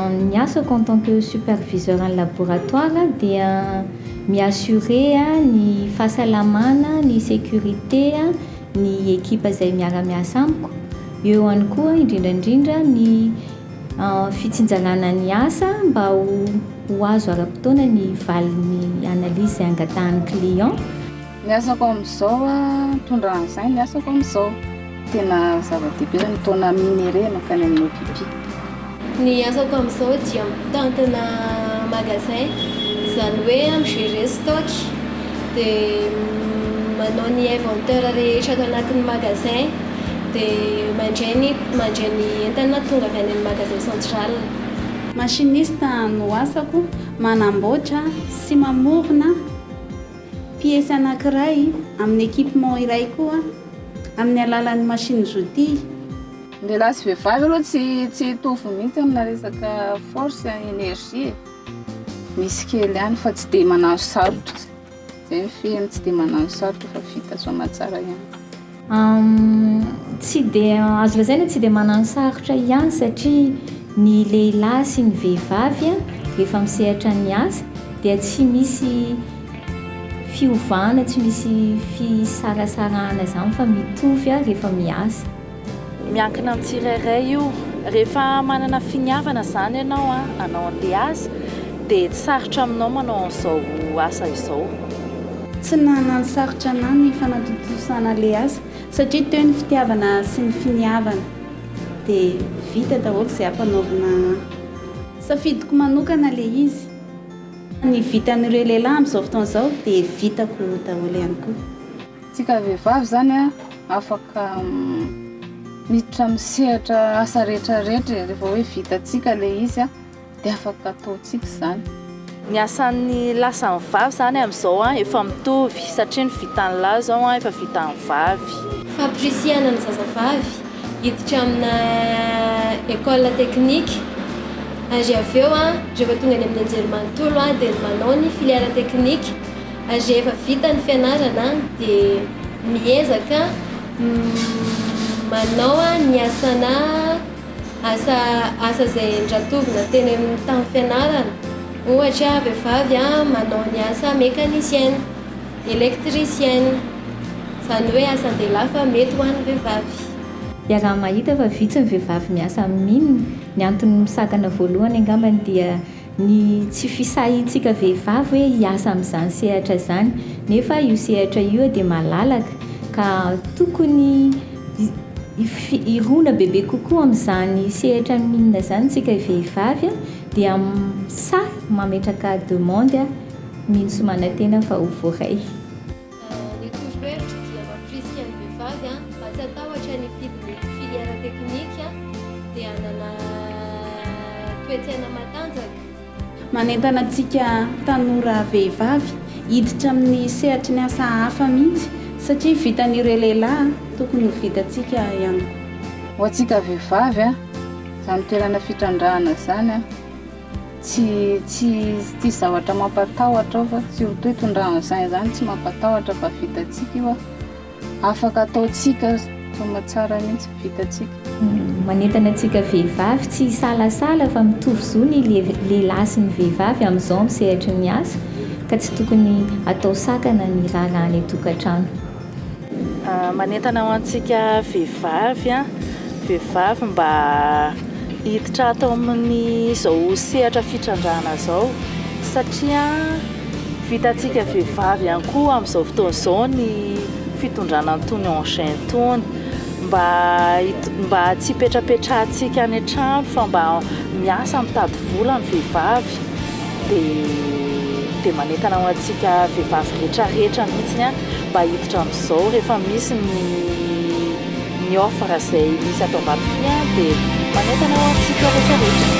Ny asako en tant que superviseur en laboratoire dia mi assurer ny fahasalamana, ny sécurité ny ekipa izay miara miasa amiko, eo ihany koa indrindra indrindra ny fitsinjarana ny asa mba ho azo ara-potoana ny valin'ny analyse izay angatahan'ny client. Ny asako amin'izao a, mitondra an'izay ny asako amin'izao. Tena zava-dehibe ny mitaona minerais mankany amin'ny OPP. Ny asako amin'izao dia mitantana magasin, izany hoe mi-gérer stock, dia manao ny inventeur rehetra ato anatin'ny magasin, dia mandray ny mandray ny entana tonga avy any amin'ny magasin central. Machiniste no asako, manamboatra sy mamorona. Piesy anankiray amin'ny équipement iray koa amin'ny alalan'ny machine z'outils. Ny lehilahy sy vehivavy aloha tsy tsy hitovy mihitsy amina resaka force et énergie e. Misy kely ihany fa tsy dia manano sarotra. Izay ny fihiny tsy dia manano sarotra fa vita soa aman-tsara ihany. Tsy dia azo lazaina hoe tsy dia manano sarotra ihany satria ny lehilahy sy ny vehivavy rehefa misehatra ny asa dia tsy misy fiovana, tsy misy fisarasarahana izany fa mitovy rehefa miasa. Miankina amin'ny tsirairay io. Rehefa manana finiavana izany ianao hanao an'ilay asa dia tsy sarotra aminao manao an'izao asa izao. Tsy nanasarotra ana ny fanatontosana le asa satria teo ny fitiavana sy ny finiavana de vita daholo ze ampanaovina an. Safidiko manokana le izy. Ny vitan'ireo lehilahy amzao fotoana zao de vitako daholo ihany koa. Tsika vehivavy zany a afaka miditra am sehatra asa rehetra rehetra e refa hoe vitatsika le izy a. Dia afaka ataontsika izany. Ny asan'ny lahy sy ny vavy izany amin'izao efa mitovy satria ny vitan'ny lahy izao efa vitan'ny vavy. Fampirisihana ny zazavavy hiditra amina école technique ary avy eo rehefa tonga any amin'ny anjerimanontolo dia manao ny filière technique ary rehefa vita ny fianarana dia miezaka manao ny asana asa asa izay endratovina teny amin'ny tamin'ny fianarana, ohatra vehivavy manao ny asa mécanicienne, électricienne, izany hoe asan-dehilahy fa mety ho an'ny vehivavy. Iaraha-mahita fa vitsy ny vehivavy miasa amin'ny mine, ny antony misakana voalohany angambany dia Ny tsy fisahiantsika vehivavy hoe hiasa amin'izany sehatra izany, nefa io sehatra io dia malalaka ka tokony hirona bebe kokoa amin'izany sehatra minina izany isika vehivavy dia sahy mametraka demande mino sy manantena fa ho voaray. Ny torohevitro dia mampirisika ny vehivavy mba tsy hatahotra ny hifidy ny filière technique dia hanana toe-tsaina matanjaka. Manentana antsika tanora vehivavy hiditra amin'ny sehatry ny asa hafa mihitsy satria vitan'ireo lehilahy tokony ho vitantsika ihany koa. Ho antsika vehivavy, izany toerana fitrandrahana izany. Tsy tsy tsisy zavatra mampatahotra ao fa surtout itondrany saina izany tsy mampatahotra fa vitantsika io afaka ataontsika tena tsara mihitsy vitantsika. Hmm, manentana antsika vehivavy tsy hisalasala fa mitovy zo ny lehilahy sy ny vehivavy amin'izao amin'ny sehatry ny asa ka tsy tokony atao sakana ny raharaha any an-tokantrano. Manentana ho antsika vehivavy, vehivavy mba hiditra ato amin'izao sehatra fitrandrahana izao satria vitantsika vehivavy ihany koa amin'izao fotoana izao ny fitondrana an'itony engins itony, mba mba tsy hipetrapetrahantsika any an-trano fa mba miasa mitady vola ny vehivavy. dia manentana ho antsika vehivavy rehetra rehetra mihitsy mba hiditra amin'izao rehefa misy ny ny offre izay misy ato Ambatofiloha dia manentana ho antsika rehetra rehetra